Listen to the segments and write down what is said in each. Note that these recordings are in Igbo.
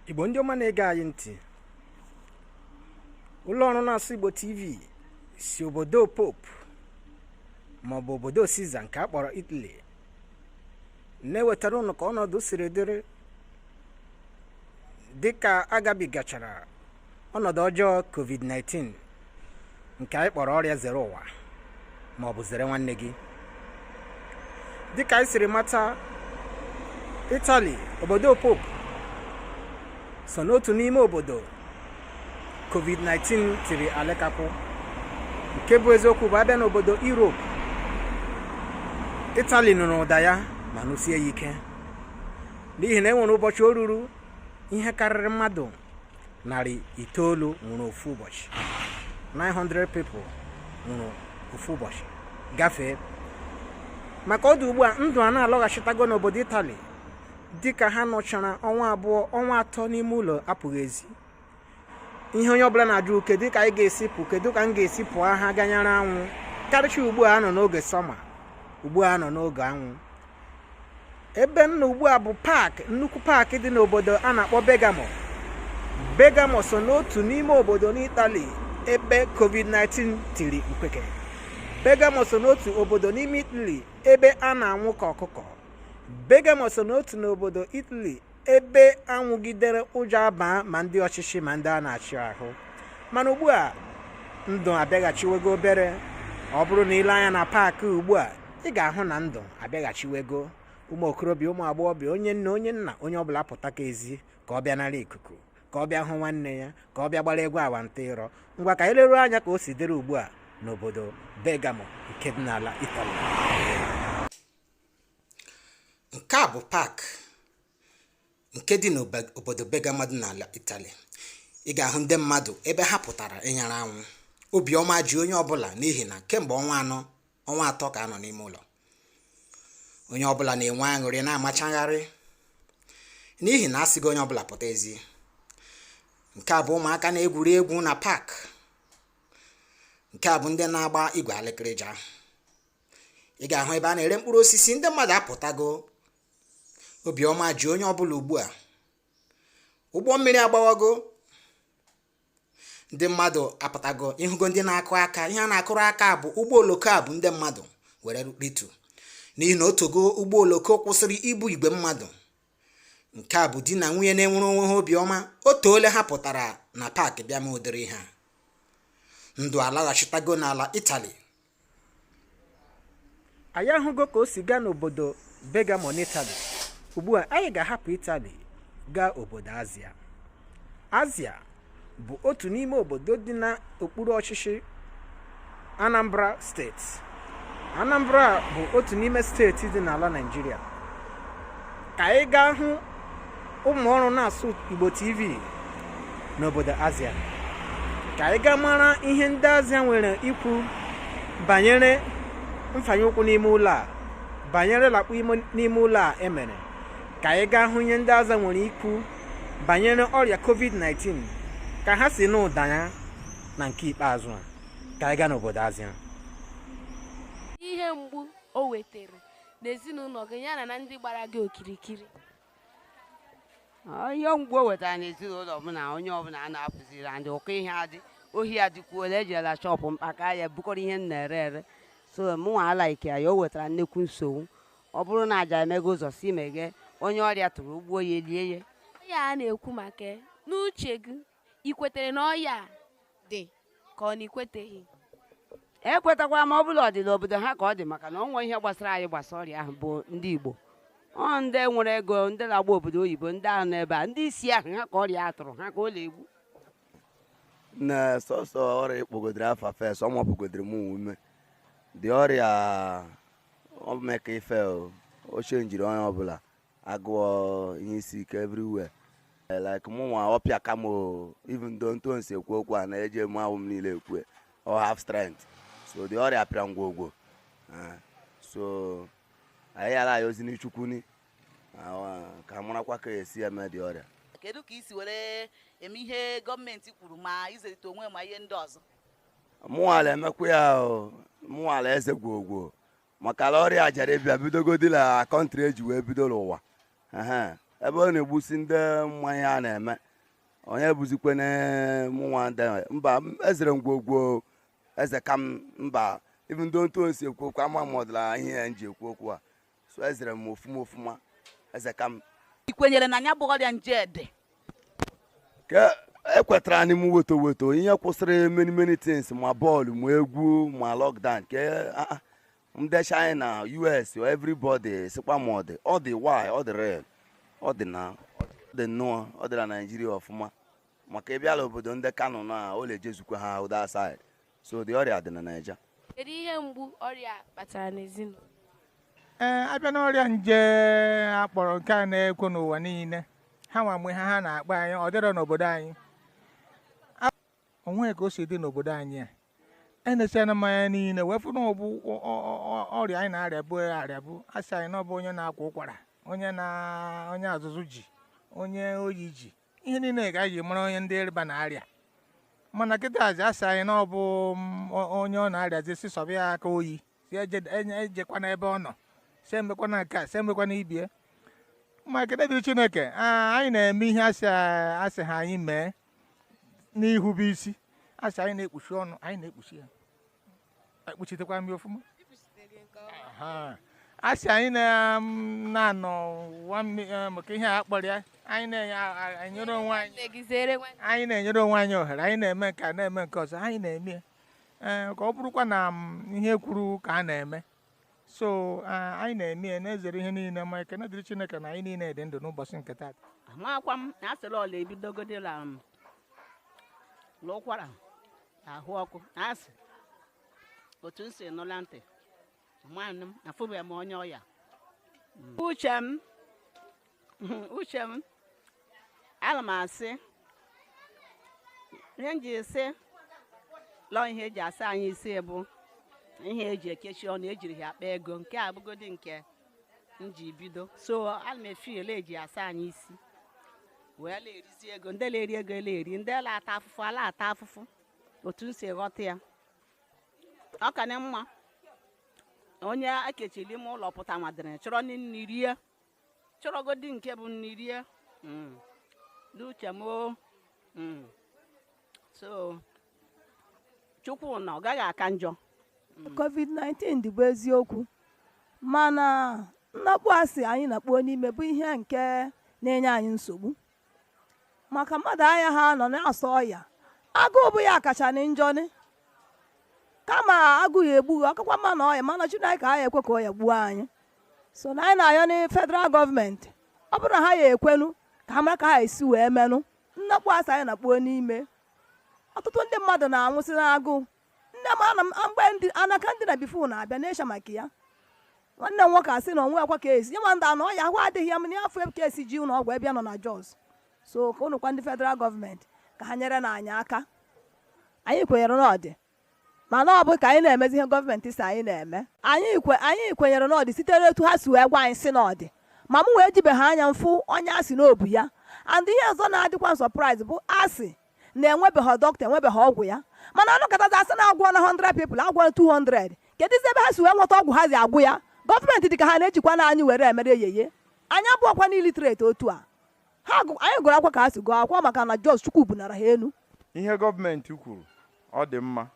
igbo ndị ọma na-ege anyị ntị ụlọ ọrụ na-asụ igbo tv si obodo pope maọbụ obodo siza nke a kpọrọ italy na-ewetara ụnụ ka ọnọdụ siri dịrị dịka agabigachara ọnọdụ ọjọọ covid-19 nke anyị kpọrọ ọrịa zere ụwa ma ọ bụ zere nwanne gị dịka anyị siri mata itali obodo pope so n'otu n'ime obodo covid-19 tiri alekapụ nke bụ eziokwu bụ a bịa n'obodo europe itali nụrụ ụda ya ma nụsie ya ike n'ihi na e nwere ụbọchị o ruru ihe karịrị mmadụ narị itoolu nwụrụ ofu ụbọchị 900 people nwụrụ ofu ụbọchị gafee ma ka ọ dị ugbu a ndụ a na-alọghachitago n'obodo itali dịka ha nọchara ọnwa abụọ ọnwa atọ n'ime ụlọ apụghị ezi ihe onye ọbụla na-ajụ kedu ka anyị ga-esi pụ kedu ka m ga-esi pụọ ha ga nyara anwụ karịcha ugbu a nọ n'oge sọma ugbu a nọ n'oge anwụ ebe m nọ ugbu a bụ paakị nnukwu paakị dị n'obodo a na-akpọ Bergamo Bergamo so n'otu n'ime obodo n'Itali ebe COVID-19 tiri mkpeke Bergamo so n'otu obodo n'ime Italy ebe a na-anwụ ka ọkụkọ Bergamo so n'otu n'obodo Italy ebe a nwụgidere ụjọ abaa ma ndị ọchịchị ma ndị a na-achị ahụ mana ugbu a ndụ abịaghachiwego obere ọ bụrụ na i lee anya na paakị ugbu a ị ga-ahụ na ndụ abịaghachiwego ụmụ okorobịa ụmụ agbọghọbịa onye nne onye nna onye ọbụla pụta ka ezi ka ọ bịa nara ikuku ka ọ bịa hụ nwanne ya ka ọ bịa gbara egwu awantịrọ ngwa ka anyị leruo anya ka o si dịrị ugbu a n'obodo Bergamo nke dị n'ala Itali nke a bụ pak nke dị n'obodo Bergamo dị n'ala Itali ị ga-ahụ ndị mmadụ ebe ha pụtara ịnyara anwụ obiọma ji onye ọbụla n'ihi na kemgbe ọnwa atọ ka a nọ n'ime ụlọ onye ọbụla na-enwe aṅụrị na-amachagharị n'ihi na a sịgo onye ọbụla pụta ezi nke a bụ ụmụaka na-egwuri egwu na pak nke a bụ ndị na-agba igwe alịkịrịja ị ga-ahụ ebe a na-ere mkpụrụ osisi ndị mmadụ apụtago obiọma ji onye ọbụla ugbu a ụgbọ mmiri agbawago ndị mmadụ apụtago ịhụgo ndị na-akụ aka ihe a na-akụrụ aka bụ ụgbọ oloko a bu ndị mmadụ were rute n'ihi na o teego ụgbọ oloko kwụsịrị ibu igwe mmadụ nke a bụ di na nwunye na-enwere onwe ha obiọma o teela ha pụtara na paakị bịa mee ụdịrị ihe a ndụ alaghachitago n'ala itali anyị ahụgo ka o si gaa n'obodo Bergamo n'Itali ugbu a anyị ga-ahapụ Itali gaa obodo Azia Azia bụ otu n'ime obodo dị n'okpuru ọchịchị Anambra steeti Anambra bụ otu n'ime steeti dị n'ala Naịjirịa ka anyị gaa hụ ụmụ ọrụ na-asụ Igbo TV n'obodo Azia ka anyị gaa mara ihe ndị Azia nwere ikwu banyere mfanye ụkwụ n'ime ụlọ a banyere lakpụ n'ime ụlọ a e mere ka anyị gaa hụ ihe ndị Azia nwere ikwu banyere ọrịa COVID-19 ka ha si nụ ụda ya na nke ikpeazụ a ka anyị gaa n'obodo Azia ihe mgbu o wetara na ezinụlọ gị yana na ndị gbara gị okirikiri ihe mgbu o wetara na ezinụlọ m na onye ọbụla a na-apụziri and ụkọ ihe adị ohi adịkwuola e jela shọpụ m kpaka ya bukọrọ ihe m na-ere ere so mụnwa alaike ya o wetara nnukwu nsogbu ọ bụrụ na a ja-emeghe ụzọ si meghee onye ọrịa tụrụ o gbuo ya e lie ya ọya a na-ekwu maka n'uche gị i kwetere na ọya a dị ka ọ na i kweteghị ekwetakwa m ọ bụ la ọ dị n'obodo ha ka ọ dị maka na o nwe ihe gbasara anyị gbasa ọrịa ahụ bụ ndị Igbo ọ ndị nwere ego ndị na-agba obodo oyibo ndị ahụ n'ebe a ndị isi ahụ ha ka ọrịa a tụrụ ha ka ọ na-egbu na sọsọ ọrịa ị kpọgodoro afa first ọ mapụgodoro m ume the ọrịa o meka ife o, o chenjiri onye ọbụla agụụ ihe isi ike everywhere eh, like mụ nwa ọ pịaka m even though otu m si ekwu okwu a na-eji emu ahụ m niile ekwu ọ have strength so the ọrịa pịa m gwogwo eh, so anyị ala-ayọzi ni Chukwu ni ah, ka marakwa ka e si eme the ọrịa kedu ka i si were eme ihe gọọmenti kwuru ma izerita onwe ma ihe ndị ọzọ mụnwa la-emekwa ya mụnwa la-eze gwogwo maka la ọrịa a jiri bịa bidogodi na kọntrị e ji wee bido n'ụwa ebe ọ na-egbusi ndị ma ihe a na-eme onye bụzikwanị mụnwa ndị mba ezere m gwogwo ezeka m mba even though otu m si ekwu okwu ama m ọdịla ihe ya m ji ekwu okwu a so ezere m ofuma ofuma ezeka m i kwenyere na ya bụ ọrịa nje dị ekwetaranị m wait o wait o ihe kwụsịrị many many things ma bọọlụ ma egwu ma lockdown ke ndị China US everybody sikwa ma ọ dị ọ dị why ọ dị real ọ dị na ọ dị nnọọ ọ dị na Naịjirịa ọfụma maka ị bịa la obodo ndị Kano na ọ la-ejezukwa Hausa side so the ọrịa dị na naija kedu ihe mgbu ọrịa kpatara n'ezinụlọ ee eh, abịa n'ọrịa nje a kpọrọ nke a na-ekwu n'ụwa niile ha nwa mgbe ha ha na-akpa anyị ọ dịrọ n'obodo anyị o nwe ka o si dị n'obodo anyị a enesịana m ya niile wee fụ na ọ bụ ọrịa anyị na-arịabụ arịabụ a sị anyị na ọ bụ onye na-akwa ụkwara onye na onye azụzụ ji onye oyi ji ihe niile ka anyị ji mara onye ndị ịrịba na-arịa mana kịtazi a sị anyị na ọ bụ mm, onye ọ na-arịa zi sị sọba ya aka oyi sị ejekwana e, e ebe ọ nọ sị emekwana nke a sị emekwana ibie ma ekene dịrị chineke anyị na-eme ihe a sị a sị ha anyị mee n'ihube isi a sị anyị na-ekpuchi ọnụ anyị na-ekpuchi ya ekpuchitekwa imi ọfụma a sị anyị um, na-anọ eh, maka ihe a kpọrọ ya anyị na-enyere onwe anyị na-enyere onwe anyị ohere anyị na-eme nke a na-eme nke ọzọ anyị na-eme ya eh, ka ọ bụrụkwa na um, ihe e kwuru ka a na-eme so eh, anyị na-eme ya na-ezere ihe niile ma ekene dịrị Chineke na anyị niile dị ndụ n'ụbọchị nke taata amakwa m na a sịrị ọ la-ebidogodi la um, n'ụkwara ahụ ọkụ a sị otu m si nụ la ntị mana m afụbeghị m onye ọya uche m uche m ana m asị ihe m ji sị la ọ ihe e ji asa anyị isi bụ ihe e ji ekechi ọnụ e jiri ya akpa ego nke a bụgodi nke m ji bido so ana m afụ la e ji asa anyị isi wee na-erizi ego ndị na-eri ego na-eri ndị na-ata afụfụ a la-ata afụfụ otu m si ghọta ya ọ ka na mma onye e kechiri ime ụlọ pụta madịrị chọrọ nri rie chọrọgodi nke bụ nri rie hmm. n'uche m hmm. so chukwu na ọ gaghị aka njọ covid-19 dị bụ eziokwu mana nnakpu a sị anyị nakpuo n'ime bụ ihe nke na-enye anyị nsogbu maka mmadụ ayaha anọ na-asọ ọya agụụ bụ ya kacha na njọ ni kama agụụ ya-egbu gị ọ kakwa mma na ọya mana chineke aya ekwe ka ọya gbuo anyị sọ na anyị na-ayọ na federal gọọmenti ọ bụrụ na ha ya-ekwenụ ka ha mara ka ha esi wee menụ nnakpu a sị anyị nakpuo n'ime ọtụtụ ndị mmadụ na-anwụsị n'agụụ nne m ana m mgbe ndị anaka ndị na before na-abịa n'esha maka ya nwanne m nwoke sị na o nwekwa ka esi ịma ndị anọ ya ahụ adịghị ya m na-afụ ka esi ji ụlọ ọgwụ ebe ya nọ na Jos so ka ụnụkwa ndị federal gọọmenti ka ha nyerenụ anyị aka anyị kwenyere na ọ dị mana ọ bụ ka anyị na-emezi ihe gọọmenti sị anyị na-eme anyị kwe anyị kwenyere na ọ dị sitere etu ha si wee gwa anyị sị na ọ dị ma mụnwa ejibeghị anya m fụ onye a sị na o bu ya and ihe ọzọ na-adịkwa surprise bụ a sị na enwebeghị dọkịta enwebeghị ọgwụ ya mana anụkatazi a sị na agwọọna 100 people agwọọ 200 keduzi ebe ha si wee nweta ọgwụ ha ji agwọ ya gọọmenti dị ka ha na-ejikwanụ anyị were emere eyeye anyị abụghịkwanụ illiterate otu a ha gụ- anyị gụrụ akwụkwọ ka ha si gụọ akwụkwọ maka na just chukwu bunara ha enu ihe gọọmenti kwuru ọ dị mma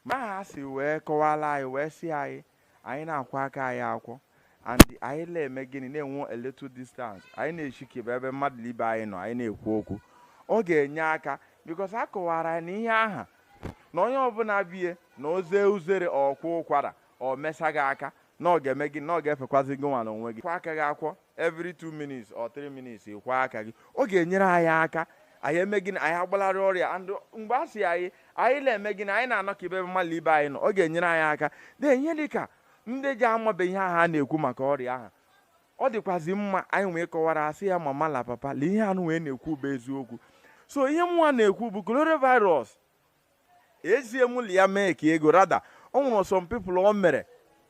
ma ha si wee kọwara anyị wee sị anyị anyị na-akwọ aka anyị akwọ and anyị na-eme gịnị na-enwe a little distance anyị na-echikebe ebe mmadụ ibe anyị nọ anyị na-ekwu okwu ọ ga-enye aka because a kọwara anyị na ihe aha na onye ọbụla bu ya na o zee uzere ọ kwaa ụkwara ọ mesa gị aka na ọ ga-eme gị na ọ ga-efekwazi gị nwa n'onwe gị kwọ aka gị akwọ every two minutes or three minutes ị kwọọ aka gị ọ ga-enyere anyị aka anyị eme gịnị anyị agbalarị ọrịa and mgbe a sị anyị anyị na-eme gịnị anyị na-anọkebe ebe mmadụ ibe anyị nọ ọ ga-enyere anyị aka na ihe dị ka ndị ji amabe ihe ahụ a na-ekwu maka ọrịa ahụ ọ dịkwazi mma anyị wee kọwara ha sị ya mama la papa lee ihe anụ wee na-ekwu bụ eziokwu so ihe mụnwa na-ekwu bụ coronavirus ezie m ụlọ ya mee ka ego rada o nwere some people o mere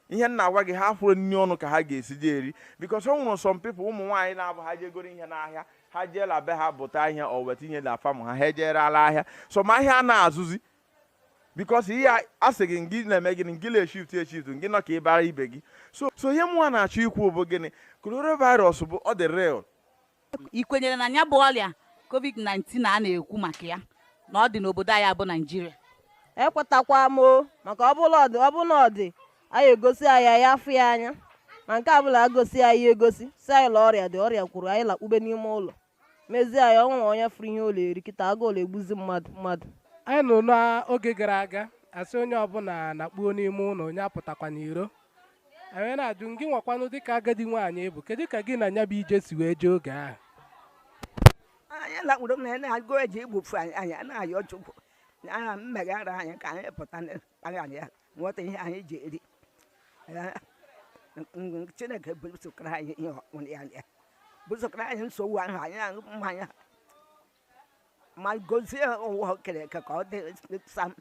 ihe m na-agwa gị ha afụrọ nri ọnụ ka ha ga-esi je eri because o nwere some people ụmụ nwaanyị na-abụ ha jee goro ihe n'ahịa ha jee la be ha buta ihe o weta ihe na farm ha ha ejee ree la ahịa so ma ahịa na-azụzi because ihe a sị gị ngị na-eme gịnị ngị na-eshift eshift ngị anọkebala ibe gị nso so ihe mụnwa na-achọ ikwu bụ gịnị coronavirus bụ ọ dị real ị kwenyere na ya bụ ọrịa covid-19 a na-ekwu maka ya na ọ dị n'obodo anyị bụ naịjirịa ekwetakwa m maka ọ bụ la ọ dị ọ bụ la ọ dị a ya-egosi anyị ya afụ ya anya ma nke a bụ la agosi anyị egosi sị anyị la ọrịa dị ọrịa kwuru anyị lakpube n'ime ụlọ mezie anyị o nwere onye fụrụ ihe ọ la-eri kịta agụụ la-egbuzi mmadụ mmadụ anyị nụrụ n'oge gara aga a sị onye ọbụla nakpuo n'ime ụlọ onye apụtakwa n'iro anyị na-ajụ gị nwakwanụ dịka agadi nwaanyị ị bụ kedu ka gị na nya bụ ije si wee jee oge ahụ anyị lakpuru m na ya na agụụ eje igbufu anyị anyị na-ayọ chukwu na ha meghere anyị ka anyị pụta n'aghara ya nweta ihe anyị ji eri Ee, ng- chineke bụsokara anyị ihe ọkpụrụ ya ya bụsokara anyị nsogbu ahụ anyị na-aṅụ mmanya ma gozie ụwa o kere eke ka ọ dị sam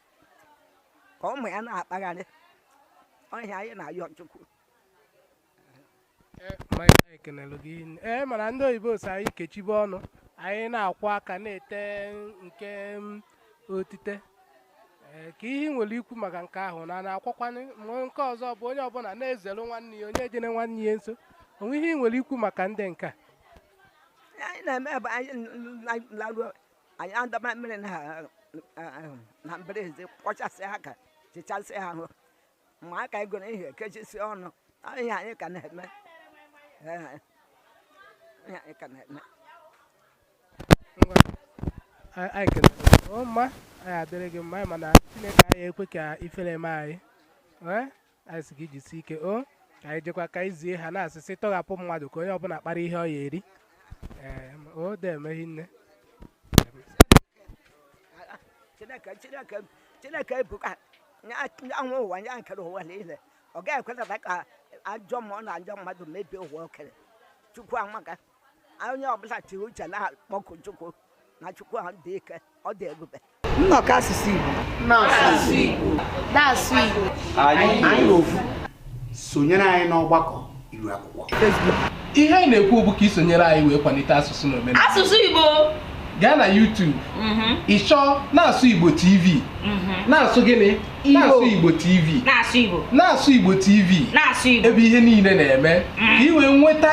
ka ụmụ ya na-akpagharị ọ ya anyị na-ayọ chukwu ekenelụ gị hinne. ee mana ndị oyibo sị anyị kechibe ọnụ anyị na-akwọ aka na-ete nke mm, otite Ee, kee ihe ị nwere ikwu maka nke ahụ na na-akwọkwanụ ma nke ọzọ bụ onye ọbụla na-ezere nwanne ya onye ejene nwanne ya nso o nwe ihe ị nwere ikwu maka ndị nke a anyị na-eme bụ anyị laruo anyị adọba mmiri na mbara ezi kwọchasịa aka chichasịa ahụ ma aka anyị goro ihe kechisi ọnụ ihe anyị ka na-eme ihe anyị ka na-eme anyị kelere mma anyị adịrị gị mma anyị mana chineke anyị ekwe ka ifere eme anyị anyị sị gị jisie ike o ka anyị jekwa ka anyị zie ha na-asị sị tọghapụ mmadụ ka onye ọbụla kpara ihe ọ ya eri ee o de emeghị nne chineke chineke chineke ebuka anwụ ụwa ya kere ụwa niile ọ gaghị ekwetara ka ajọ mmụọ na ajọ mmadụ mebie ụwa o kere chukwu amaka onye ọbụla tiri uche na-akpọku Chukwu na Chukwu ahụ dị ike ọ dị ebube nnọkọ asụsụ Igbo na-asụ Igbo anyị ofu sonyere anyị n'ọgbakọ iru akwụkwọ ihe anyị na-ekwu bụ ka ị sonyere anyị wee kwalite asụsụ na omenala asụsụ Igbo gaa na YouTube mhm. ị chọọ na-asụ Igbo TV mhm. na-asụ gịnị na-asụ Igbo TV na-asụ Igbo TV ebe ihe niile na-eme ka ị mhm. wee nweta